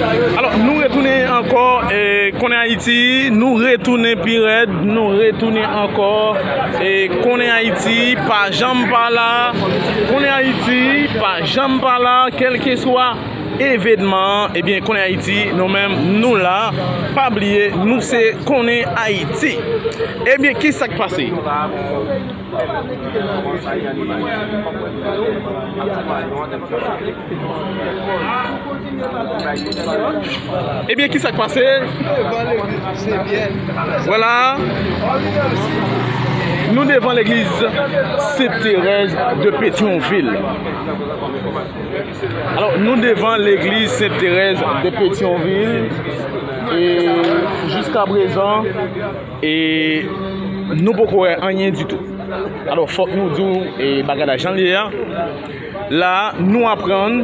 Alò nou retounen ankò e konnen Ayiti nou retounen pi rèd nou retounen ankò e konnen Ayiti pa janm pa la konnen Ayiti pa janm pa la kèlkeswa evènman ebyen konnen Ayiti nou menm nou la pa bliye nou se konnen Ayiti ebyen ki sak pase Ebyen ki sak pase? Vwala Nou devan legliz Sent Terèz de Petyonvil Alò nou devan legliz Sent Terèz de Petyonvil E jiska prezan E Nou poko wè anyen ditou Alò fòk nou di w bagay la jan l ye a La a, nou aprann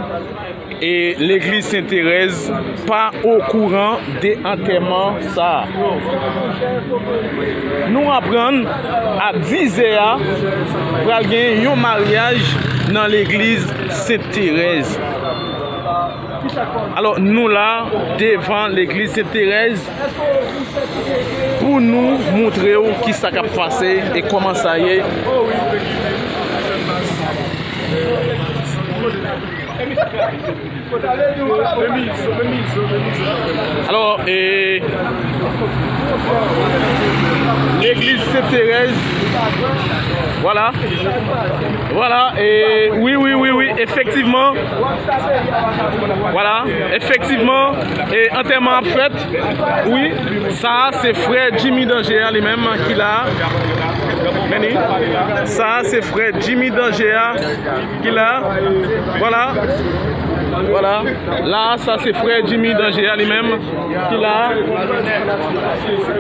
legliz Sen Terèz pa okouran de antèman sa a. Nou aprann a dizè a pral gen yon maryaj nan legliz Sen Terèz. Alò, nou la devan legliz Sen Terèz. Pou nou moutre w ki sa k ap pase e kòman sa ye. Alò e. Legliz Sen Terèz. Vwala. Vwala e. Wi wi wi wi efektivman. Vwala efektivman. E antèman ap fèt wi. Sa a se frè Jimmy Danger a li menm ki la a. Men ni. Sa a se frè Jimmy Danger a ki la a. Vwala. Vwala. La a sa se frè Jimmy Danger a li menm ki la a.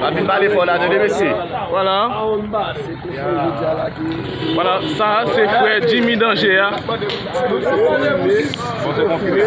Pa fin pale fò la tande mesye. Vwala. Vwala. Sa a se frè Jimmy Danger a. Bon se konfime.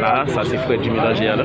La sa se fre di melanje a la